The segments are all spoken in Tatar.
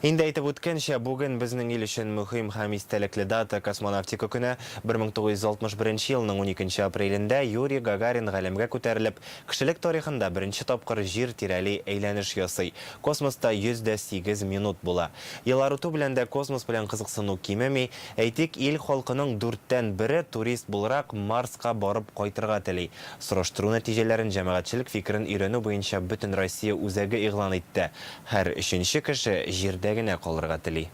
Инде әйтеп үткәнчә, бүген безнең ил өчен мөһим һәм истәлекле дата, Космонавтика көне. 1961 елның уникенче апрелендә Юрий Гагарин галәмгә күтәрелеп, кешелек тарихында беренче тапкыр Җир тирәли әйләнеш ясый. Космоста 108 минут була. Еллар үтү белән дә космос белән кызыксыну кимеми. Әйтик, ил халкының дүрттән бере, турист буларак, Марска барып кайтырга тели. Сораштыру нәтиҗәләрен җәмәгатьчелек фикерен өйрәнү буенча Бөтенроссия үзәге игълан итте. Һәр өченче кеше Җирдә генә калырга тели.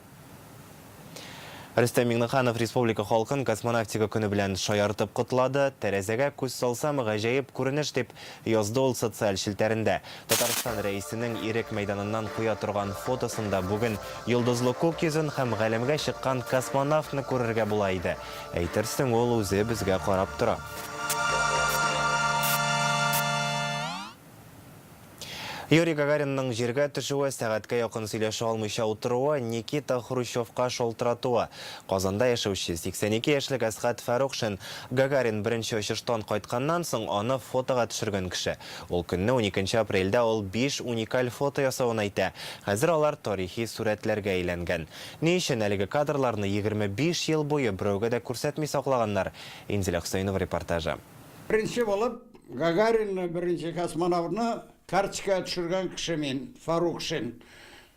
Рөстәм Миңнеханов республика халкын Космонавтика көне белән шаяртып котлады. Тәрәзәгә күз салсам, гаҗәеп күренеш, дип язды ул социаль челтәрендә. Татарстан Рәисенең Ирек мәйданыннан куя торган фотосында бүген йолдызлы күк йөзен һәм галәмгә чыккан космонавтны күрергә була иде. Әйтерсең, ул үзе безгә карап тора. Юрий Гагаринның җиргә төшүе, сәгатькә якын сөйләшә алмыйча утыруы, Никита Хрущевка шалтыратуы, Казанда яшәүче 82 яшьлек Әсгать Фәрухшин, Гагарин беренче очыштан кайтканнан соң аны фотога төшергән кеше. Ул көнне, уникенче апрельдә, ул биш уникаль фото ясавын әйтә. Хәзер алар тарихи сурәтләргә әйләнгән. Ни өчен әлеге кадрларны егерме биш ел буе берәүгә дә күрсәтми саклаганнар? Инзилә Хөсәенова репортажы. Беренче булып Гагаринны, беренче космонавтны карточкага төшергән кеше мин, Фарукшин.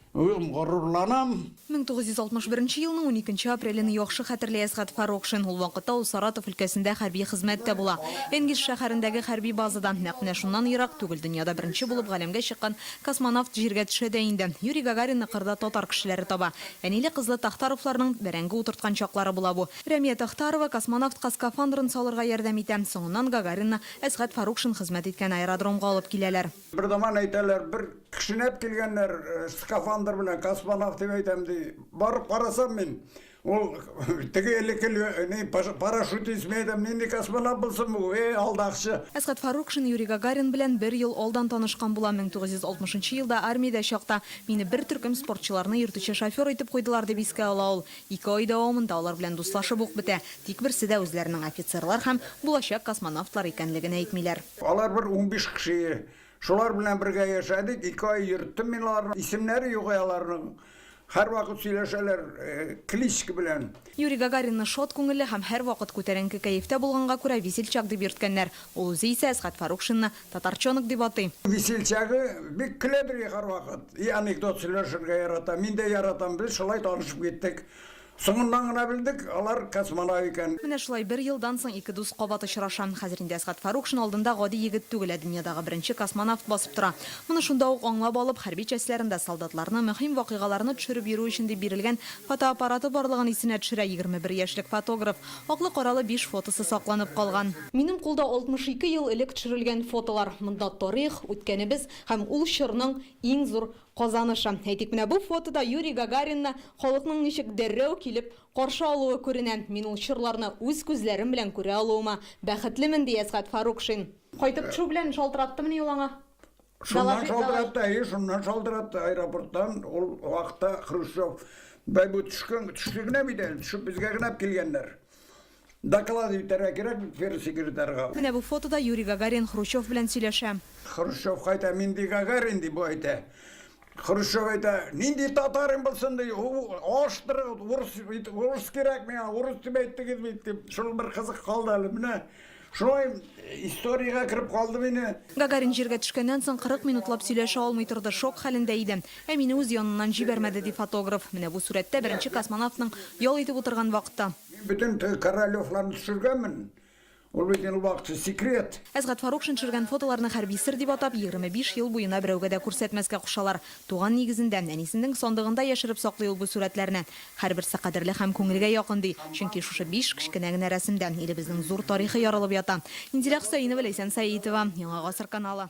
Үзем горурланам. 1961 елның уникенче апрелен яхшы хәтерли Әсгать Фарукшин. Ул вакытта ул Саратов өлкәсендә хәрби хезмәттә була. Энгельс шәһәрендәге хәрби базада, нәкъ менә шуннан ерак түгел, дөньяда беренче булып галәмгә чыккан космонавт җиргә төшә дә инде. Юрий Гагаринны кырда татар кешеләре таба. Әниле-кызлы Тахтаровларның бәрәңге утырткан чаклары була бу. Рәмия Тахтарова космонавтка скафандрын салырга ярдәм итә. Соңыннан Гагаринны Әсгать Фарукшин хезмәт иткән аэродромга алып киләләр. Бер заман, әйтәләр, бер кешнәп килгәннәр скафандр белән, космонавт дип әйтәм, ди. Барып карасам мин, ул теге элекке лё, ни, паш, парашютист, мин әйтәм, нинди космонавт булсын бу, э, алдакчы. Әсгать Фарукшин Юрий Гагарин белән бер ел алдан танышкан була, 1960 нчы елда армиядә чакта мине бер төркем спортчыларны йөртүче шофер итеп куйдылар, дип искә ала ул. Ике ай дәвамында алар белән дуслашып ук бетә, тик берсе дә үзләренең офицерлар һәм булачак космонавтлар икәнлеген әйтмиләр. Алар бер унбиш кеше. Шулар белән бергә яшәдек, ике ай йөрттем мин аларны. Исемнәре юк ә аларның. Һәрвакыт сөйләшәләр кличка белән. Юрий Гагаринны шат күңелле һәм һәрвакыт күтәренке кәефтә булганга күрә Весельчак дип йөрткәннәр. Ул үзе исә Әсгать Фарукшинны Татарчонок дип атый. Весельчагы бик көләдер һәрвакыт. И анекдот сөйләшергә ярата. Мин дә яратам. Без шулай танышып киттек. Соңыннан гына белдек, алар космонавт икән. Менә шулай бер елдан соң ике дус кабат очраша. Хәзер инде Әсгать Фәрухшин алдында гади егет түгел, ә дөньядагы беренче космонавт басып тора. Моны шунда ук аңлап алып, хәрби частьләрендә солдатларны, мөһим вакыйгаларны төшереп йөрү өчен дип бирелгән фотоаппараты барлыгын исенә төшерә егерме бер яшьлек фотограф. Аклы-каралы биш фотосы сакланып калган. Минем кулда 62 ел элек төшерелгән фотолар. Монда тарих, үткәнебез һәм ул чорның иң зур казанышы. Әйтик, менә бу фотода Юрий Гагаринны халыкның ничек дәррәү килеп каршы алуы күренә. Мин ул чорларны үз күзләрем белән күрә алуыма бәхетлемен, ди Әсгать Фарукшин. Кайтып төшү белән шалтыраттымыни ул аңа? Шуннан шалтыратты, әйе, шуннан шалтыратты аэропорттан. Ул вакытта Хрущев бай бу төшкән, төште генә бит әле, төшеп безгә генә килгәннәр. Доклад итәргә кирәк бит первый секретарьга. Менә бу фотода Юрий Гагарин Хрущев белән сөйләшә. Хрущев кайта, мин ди Гагарин, ди, бу әйтә. Хрущев әйтә, нинди татарым булсын ди, алыштырыгыз, урыс, урыс кирәк миңа, урыс дип әйттегез бит, дип, шул бер кызык калды әле, менә шулай историягә кереп калды мине. Гагарин җиргә төшкәннән соң 40 минутлап сөйләшә алмый торды, шок хәлендә иде. Ә мине үз яныннан җибәрмәде, ди фотограф. Менә бу сурәттә беренче космонавтның ял итеп утырган вакыты. Мин бөтен Королевларны төшергәнмен, Ул бит инде вакытча секрет. Әсгать Фарукшин төшергән фотоларны хәрби сер дип атап, 25 ел буена берәүгә дә күрсәтмәскә кушалар. Туган нигезендә, әнисенең сандыгында яшереп саклый ул бу сурәтләрне. Һәрберсе кадерле һәм күңелгә якын, ди. Чөнки шушы биш кечкенә генә рәсемдә илебезнең зур тарихы ярылып ята. Инзилә Хөсәенова, Ләйсән Сәетова, Яңа гасыр каналы.